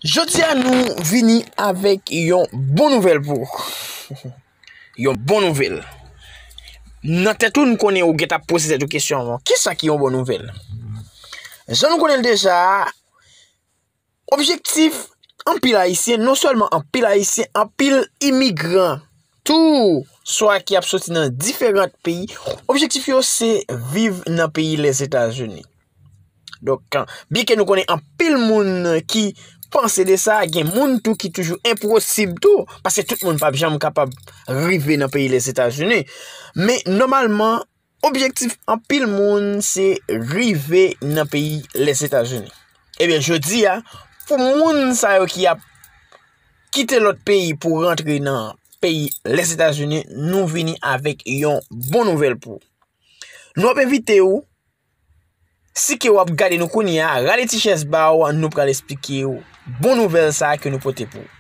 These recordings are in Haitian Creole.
Jodi a nou vini avèk yon bon nouvèl pou ou. Yon bon nouvèl. Nan tèt ou nou konnen ou gèt ap poze tèt ou kesyon an. Ki sa ki yon bon nouvèl? Jan nou konnen deja, objektif anpil ayisyen, non sèlman anpil ayisyen, anpil imigran, tou swa ki ap soti nan diferant peyi, objektif yo se viv nan peyi Lèzetazini. Donk, byen ke nou konnen anpil moun ki panse de sa, gen moun tou ki toujou enposib tou, paske tout moun pa janm kapab rive nan peyi Lezetazini. Men, nomalman, objektif anpil moun se rive nan peyi Lezetazini. Ebyen, jodi a, pou moun sa yo ki ap kite lot peyi pou rentre nan peyi Lezetazini, nou vini avèk yon bon nouvel pou. Nou ap evite ou, Si ke wap gade nou kounye a, rale ti chèz ba ou an nou pral esplike ou bon nouvèl sa ke nou pote pou ou.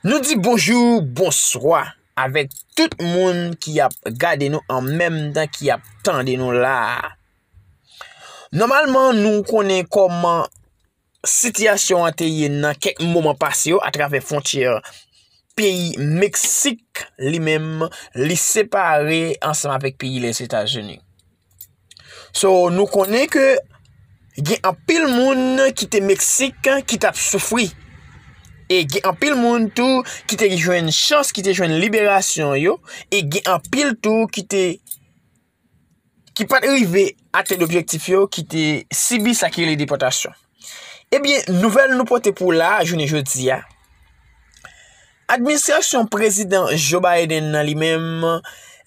Nou di bonjou, bonswa avèk tout moun ki ap gade nou an menm tan ki ap tande nou la. Nòmalman nou konnen kòman. sitiyasyon an te ye nan kèk moman pase yo atravè fwontyè peyi Meksik li menm li separe ansanm avèk peyi Lèzetazini. So nou konnen ke gen anpil moun ki te Meksik ki tap soufri. E gen anpil moun tou ki te jwenn chans, ki te jwenn liberasyon yo, e gen anpil tou ki te ki pat rive atenn objektif yo ki te sibi sa ki rele depòtasyon. Ebyen, eh nouvèl nou pote pou la jounen jodi a, administrasyon prezidan Joe Biden nan li menm,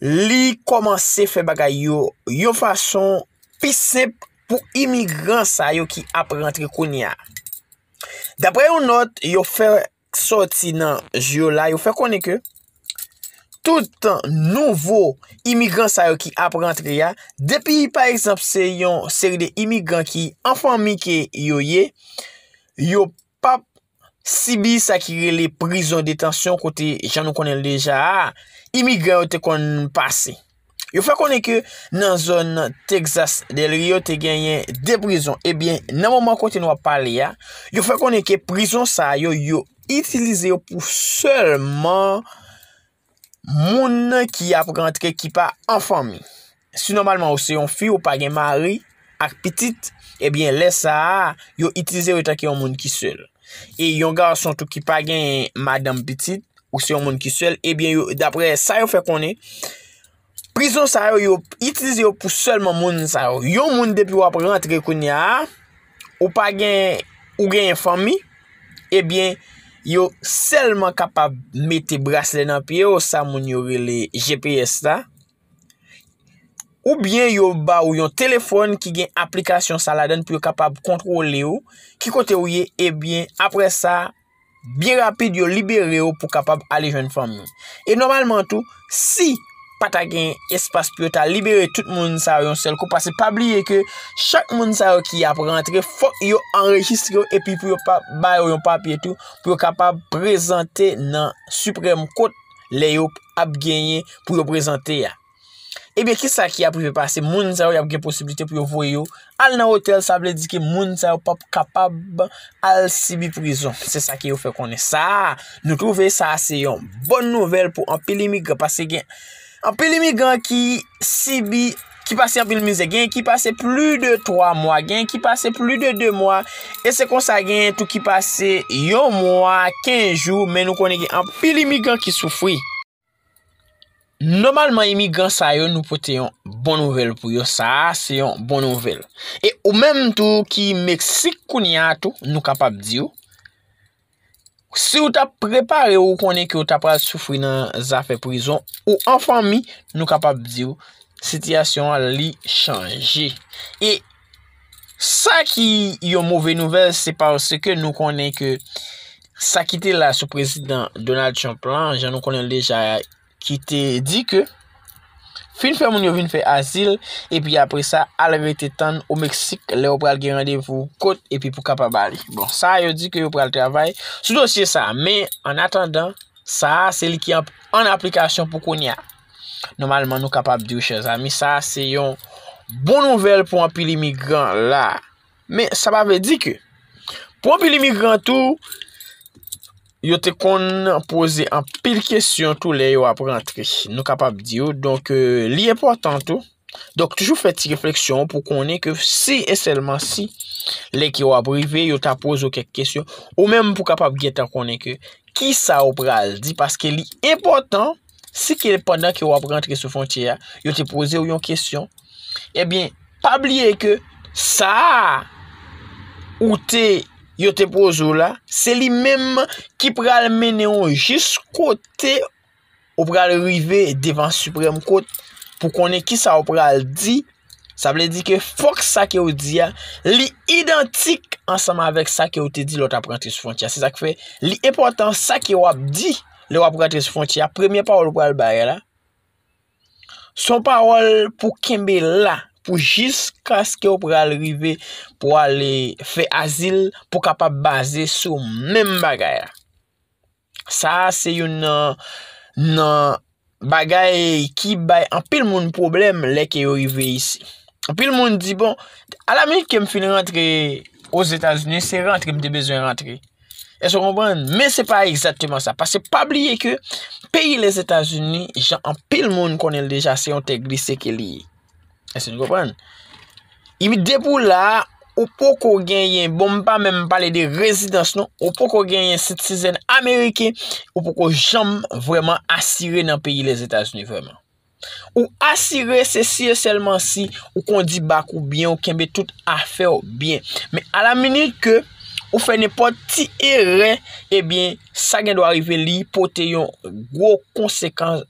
li kòmanse fè bagay yo yon fason pi senp pou imigran sa yo ki ap rantre kounye a. Daprè yon nòt yo fè k sòti nan Jyola yo fè konnen ke tout nouvo imigran sa yo ki ap rantre ya, depi pa egzanp se yon seri de imigran ki an fanmi ke yo ye, yo pap sibi sa ki rele prizon detansyon kote jan nou konnen l deja a, imigran yo te konn pase. Yo fè konnen ke nan zòn Texas Del Rio te genyen 2 prizon. Ebyen, eh nan moman kote nou ap pale ya, yo fè konnen ke prizon sa yo, yo itilize yo pou sèlman moun ki ap rantre ki pa anfanmi. Si nòmalman ou se yon fi, ou pa gen mari. Ak pitit, ebyen lè sa a, yo itilize yo tanke yon moun ki sèl. E yon gason tou ki pa gen madanm pitit, ou se yon moun ki sèl, ebyen yo, dapre sa yo fè konnen, prizon sa yo, yo itilize yo pou sèlman moun sa yo. Yon moun depi w ap rantre kounye a, ou pa gen, ou gen yon fanmi, ebyen yo sèlman kapab mete brasle nan pye yo, sa moun yo rele GPS la. Oubyen yo ba ou yon telefòn ki gen aplikasyon sa ladan pou yo kapab kontwole ou, ki kote ou ye, ebyen apre sa, byen rapid yo libere ou pou kapab ale jwenn fanmi ou. E nòmalman tou, si pa ta gen espas pou yo ta libere tout moun sa yo yon sèl kou, pase pa bliye ke chak moun sa yo ki ap rantre, fòk yo anrejistre yo epi pou yo pa bay yo yon papye tou pou yo kapab prezante nan Supreme Court lè yo ap genyen pou yo prezante ya. Ebyen ki sa ki ap rive pase moun sa yo ap gen posibilite pou yo voye yo al nan otèl sa vle di ki moun sa yo pap kapab al sibi prizon. Se sa ki yo fè konnen sa nou twouve sa se yon bon nouvel pou anpil imigran pase gen anpil imigran ki sibi. ki pase anpil mizè, genyen ki pase pli de 3 mwa, genyen ki pase pli de 2 mwa, e se konsa genyen tou ki pase yon mwa, 15 jou, men nou konen gen anpil imigran ki soufri. Nomalman imigran sa yo nou pote yon bon nouvel pou yo, sa a se yon bon nouvel. E ou menm tou ki Meksik kounye a tou, nou kapab di ou, Si ou ta prepare ou konnen ke ou ta pral soufri nan zafè prizon ou an fanmi, nou kapab di ou, sitiyasyon an li chanje. E sa ki yon move nouvel, se pa ou se ke nou konnen ke sa ki te la sou prezidan Donald Trump lan, jan nou konnen l deja, ki te di ke fin fè moun yo vin fè azil epi apre sa al rete tann o Meksik lè yo pral gen randevou kot epi pou kapab ale. Bon, sa yo di ke yo pral travay sou dosye sa, men an atandan sa a se li ki an aplikasyon pou kounye a. Nòmalman nou kapab di yo chèzami sa a se yon bon nouvèl pou anpil imigran la. Men, sa pa vle di ke pou anpil imigran tou, yo te konn poze anpil kesyon tou lè yo ap rantre. Nou kapab di yo, donk euh, li enpòtan tou. Donk toujou fè ti refleksyon pou konnen ke si e sèlman si lè ki yo ap rive, yo ta poze yo kèk kesyon. Ou menm pou kapab gentan konnen ke ki sa ou pral di paske li enpòtan. Si ke pandan ke wap rantre sou fontye a, yo te pose ou yon kesyon, ebyen, pa bliye ke sa a ou te yo te pose ou la, se li menm ki pral mennen ou jis kote ou pral rive devan Supreme Court pou konnen ki sa ou pral di. Sa vle di ke fòk sa ke ou di a, li idantik ansanm avèk sa ke ou te di lè ou tap rantre sou fwontyè a. Se sa ki fè, li enpòtan sa ke ou ap di lè ou ap rantre sou fwontyè a, premye pawòl ou pral bay la, se yon pawòl pou kenbe la, pou jiskaske ou pral rive pou ale fè azil, pou kapab baze sou menm bagay la. Sa a se youn nan nan bagay ki bay anpil moun pwoblèm lè ke yo rive isi. Anpil moun di bon, a la minit ke m fin rantre o Zetazini, se rantre m te bezwen rantre. E se konpran, men se pa egzateman sa. Pase pa bliye ke peyi Lezetazini, jan anpil moun konnen l deja, se yon tè glise ke li ye. Èske nou konprann? Ibi depi ou la, ou poko genyen, bon m pa menm pale de rezidans non, ou poko genyen sitizèn ameriken, ou poko janm vreman asire nan peyi les Etats-Unis vreman. Ou asire se si e selman si ou kondi bak ou byen, ou kenbe tout afè ou byen. Men a la minit ke ou fè nenpòt ti erè, e byen sa gen dwa rive li pote yon gwo konsekans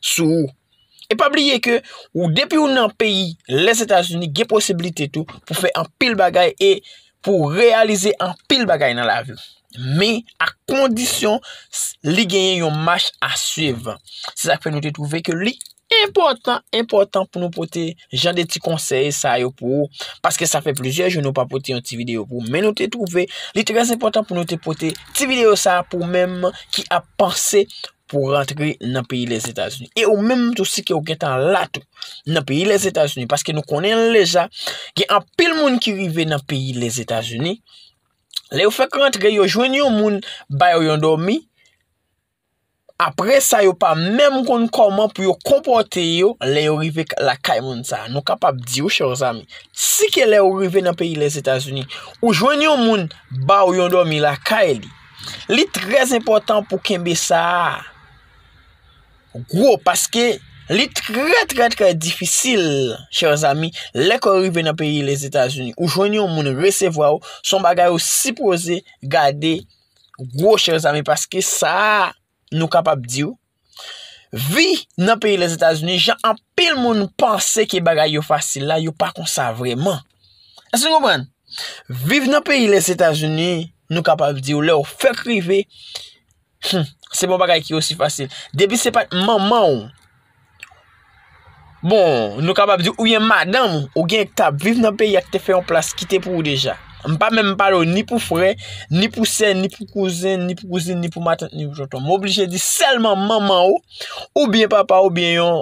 sou ou. E pa bliye ke ou depi ou nan peyi les Etats-Unis gen posibilite tou pou fè anpil bagay e pou reyalize anpil bagay nan lavi. Men ak kondisyon li genyen yon mach a swiv. Se sa k fè nou te twouve ke li enpòtan, enpòtan pou nou pote jan de ti konsèy sa yo pou ou. Paske sa fè plizyè jou nou pa pote yon ti videyo pou ou. Men nou te twouve li trèz enpòtan pou nou te pote ti videyo sa pou ou menm ki ap panse pou w rantre nan peyi Lèzetazini. E ou menm tou si ke ou gentan la tou nan peyi Lèzetazini, paske nou konnen leja, gen anpil moun ki rive nan peyi Lèzetazini, lè yo fèk rantre yo jwenn yon moun ba yo yon dòmi, apre sa yo pa menm konn kòman pou yo konpòte yo lè yo rive la kay moun sa. Nou kapab di ou chè ou zami, si ke lè ou rive nan peyi Lèzetazini, ou jwenn yon moun ba ou yon dòmi la kay li, Li trèz enpòtan pou kenbe sa a gwo paske li trè trè trè difisil chèz ami lè kò rive nan peyi Lèzetazini ou jwenn yon moun resevwa ou son bagay ou sipoze gade gwo chèz ami paske sa a. nou kapab di w, vi nan peyi Lèzetazini, jan anpil moun panse ke bagay yo fasil la, yo pa konsa vreman. Èske nou konprann? Viv nan peyi Lèzetazini, nou kapab di w, lè w fèk rive, se pa yon bagay ki osi fasil. Depi se pa t manman w, Bon, nou kapab di ou byen madanm ou gen k tap viv nan peyi a ki te fè yon plas ki te pou ou deja. M pa menm pale ou ni pou frè, ni pou sè, ni pou kouzen, ni pou kouzin, ni pou matant, ni pou tonton. M oblije di sèlman manman ou, ou byen papa ou byen yon,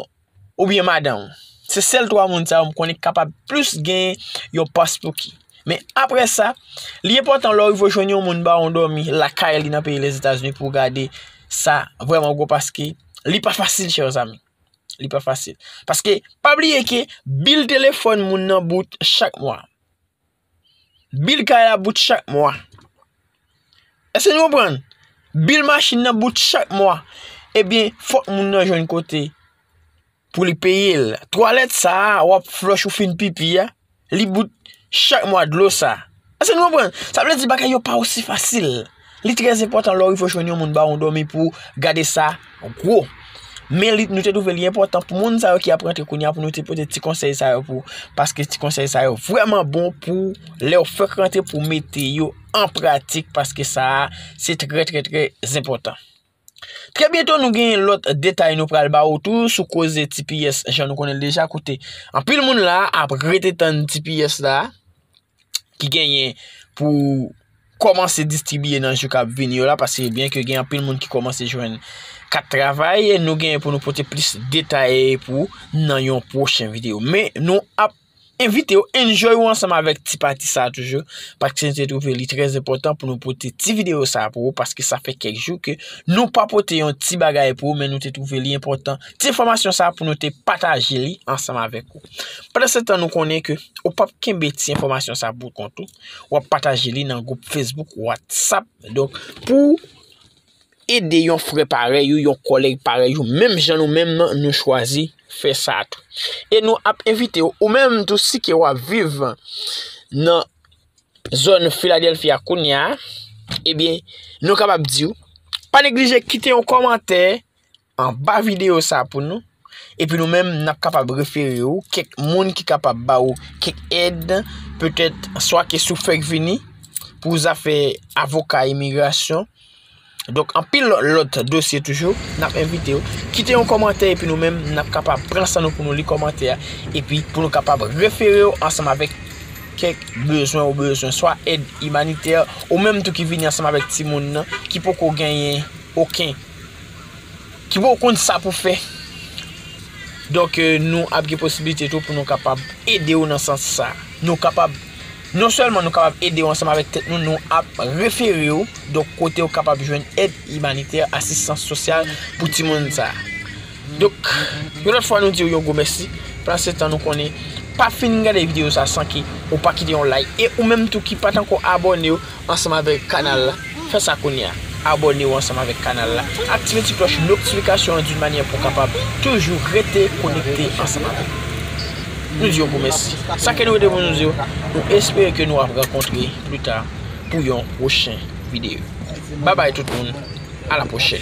ou byen madanm ou. Se sèl 3 moun sa yo m konnen k kapab plis gen yon pas pou ki. Men apre sa, li enpòtan lè w rive jwenn yon moun ba ou dòmi lakay li nan peyi Lèzetazini pou w gade sa vrèman gwo pas ki. Li pa fasil chè zanmi. Li pa fasil. Paske, pa bliye ke bil telefon moun nan bout chak mwa. Bil kay la bout chak mwa. Ese nou pran? Bil machin nan bout chak mwa. Ebyen, fok moun nan jwenn kote. pou li peye l. Twalèt sa a w ap flòch ou fin pipi a, li bout chak mwa dlo sa. Èske nou konprann? Sa vle di bagay yo pa osi fasil. Li trè enpòtan lè w rive jwenn yon moun ba w yon dòmi pou w gade sa gwo. Men li, nou te twouve li enpòtan pou moun sa yo ki ap rantre kounye a pou nou te pote ti konsèy sa yo pou paske ti konsèy sa yo vrèman bon pou lè w fèk rantre pou mete yo an pratik paske sa a se trè trè trè enpòtan. Trè byento nou gen lòt detay nou pral ba ou tou sou koze tps jan nou konnen l deja kote. Anpil moun la ap rete tann tps la ki genyen pou kòmanse distribye nan jou kap vini yo la paske byen ke gen anpil moun ki kòmanse jwenn kat travay nou genyen pou nou pote plis detay pou nan yon pwochen videyo. Men nou ap. Envite yo enjoy ou ansanm avèk ti pati sa toujou, paske nou te twouve li trè zenpòtan pou nou pote ti videyo sa pou ou, paske sa fè kèk jou ke nou pa pote yon ti bagay pou ou, men nou te twouve li enpòtan, ti enfòmasyon sa pou nou te pataje li ansanm avèk ou. Pandan se tan nou konnen ke ou pap kenbe ti enfòmasyon sa pou kont ou, wap pataje li nan gwoup Facebook, WhatsApp, donk pou. ede yon frè parèy ou, yon kòlèg parèy ou, menm jan nou menm nan nou chwazi fè sa tou. E nou ap envite ou, ou menm tou si ke w ap viv nan zòn Filadelfi a kounye a, ebyen, nou kapab di ou, pa neglije kite yon kòmantè anba video sa pou nou epi nou menm nap kapab refere ou kèk moun ki kapab ba ou kèk èd petèt swa ke sou fèk vini pou zafè avoka imigrasyon donk anpil lòt dosye toujou nap envite ou kite yon kòmantè epi nou menm nap kapab pran san nou pou nou li kòmantè epi pou nou kapab refere ou ansanm avèk kèk bezwen ou bezwen swa èd imanitè ou menm tou ki vini ansanm avèk ti moun nan ki poko genyen oken Ki pou w konn sa pou fè. Donk nou ap gen posibilite tou pou nou kapab ede ou nan sans sa. Nou kapab, non sèlman nou kapab ede ou ansanm avèk tèt nou, nou ap refere ou, donk kote ou kapab jwenn èd imanitè, asistans sosyal pou timoun sa. Donk yon lòt fwa nou diw yon gwo mèsi pase tan nou konnen pa fin gade video sa san ke ou pa kite yon like e ou menm tou ki pat ankò abònew ansanm avèk kanal la fè sa kounya abònew ansanm avèk kanal la aktive ti klòch noktifikasyon an dun manyè pou kapab toujou rete konekte ansanm avèk nou diw gwo mèsi sa ke nou rete pou nou diw nou espere ke nou ap rankontre pli ta pou yon pwochen video. Babay tout moun a la prochèn.